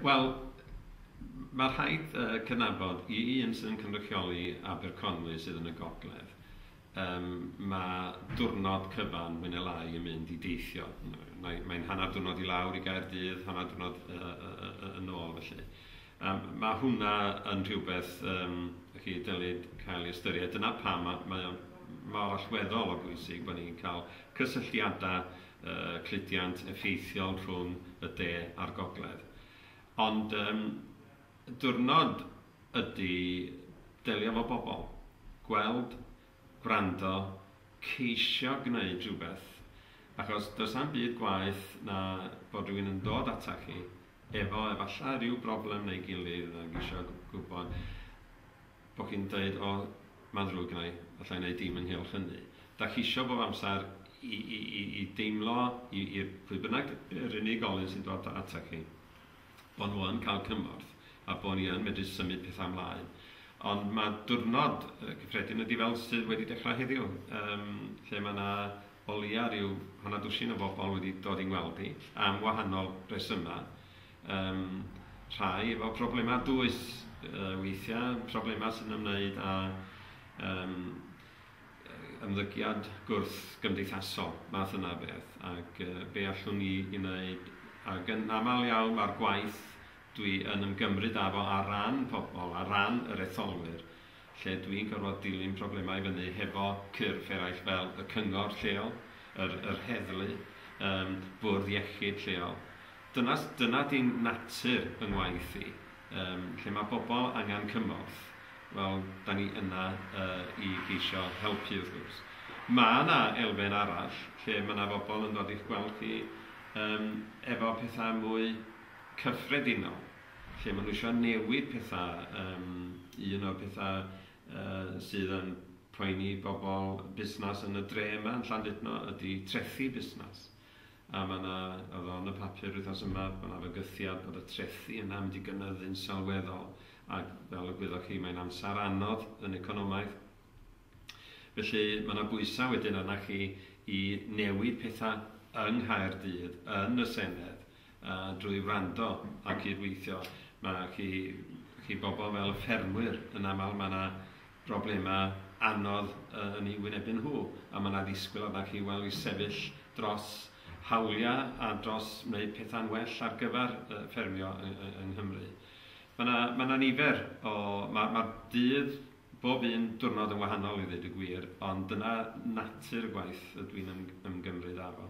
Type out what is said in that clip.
Wel, mae rhaid yy cydnabod, i i un sydd yn cynrychioli Aberconwy sydd yn y gogledd, yym mae diwrnod cyfan mwy neu lai yn mynd i deithio. Mae mae'n hanner diwrnod i lawr i Gaerdydd, hanner diwrnod yy yy yy yy yn ôl felly. Yym ma' hwnna yn rhywbeth yym dach chi dylid cael ei ystyried. Dyna pam ma' mae o mor allweddol o bwysig bod ni'n cael cysylltiadau y cludiant effeithiol rhwng y de a'r gogledd. Ond um, diwrnod ydy delio fo bobl, gweld, gwrando, ceisio gwneud rhywbeth, achos does am byd gwaeth na bod rhywun yn dod ata chi efo efallai rhyw broblem neu gilydd ac eisiau gwybod Bo chi'n deud o ma'n ddrwg gynna i, allai neud dim ynghylch hynny. Da chisio bob amser i i i i deimlo i i pwy bynnag yr unigolyn sy'n dod ata chi bo nhw yn cael cymorth a bo ni yn medru symud petha mlaen. Ond ma dwrnod yy cyffredin ydi fel sydd wedi dechrau heddiw yym lle ma na o leia ryw hanner dwsin o bobl wedi dod i ngweld i am wahanol resyma Yym, rhai efo problemau dwys yy weithiau, problemau sy'n ymwneud â yym ymddygiad gwrthgymdeithasol, math yna o beth, ac yy be allwn ni ei wneud, ac yn aml iawn mae'r gwaith dwi yn ymgymryd â fo ar ran pobl, ar ran yr etholwyr, lle dwi'n gorfod dilyn problemau i fyny hefo cyrff eraill fel y cyngor lleol, yr yr heddlu, yym bwrdd iechyd lleol, Dyna, dyna di natur yng ngwaith i. Yym, lle mae pobl angen cymorth, wel, da ni yna yy i geisio helpu wrth gwrs. Mae yna elfen arall lle mae yna bobl yn dod i'ch gweld chi yym efo pethau mwy cyffredinol, lle maen nhw eisiau newid pethau, yym, un o'r pethau yy sydd yn poeni bobl busnes yn y dre yma yn Llandudno ydi trethi busnes. A mae 'na, oedd o yn y papur wythnos yma, mae 'na fygythiad bod y trethi yna yn mynd i gynyddu'n sylweddol, ac fel y gwyddoch chi, mae'n amser anodd yn economaidd. Felly mae 'na bwysau wedyn arna chi i newid pethau yng Nghaerdydd, yn y Senedd, a drwy wrando a cydweithio. Mae chi, chi bobl fel y ffermwyr, yn aml mae 'na broblemau anodd yn eu hwynebu nhw, a mae 'na ddisgwyl arnoch chi, wel, i sefyll dros hawliau a dros wneud pethau'n well ar gyfer ffermio yng Nghymru. Mae 'na mae 'na nifer o... ma' ma'r dydd, bob un diwrnod yn wahanol i ddweud y gwir, ond dyna natur y gwaith ydw i'n ymgymryd â fo.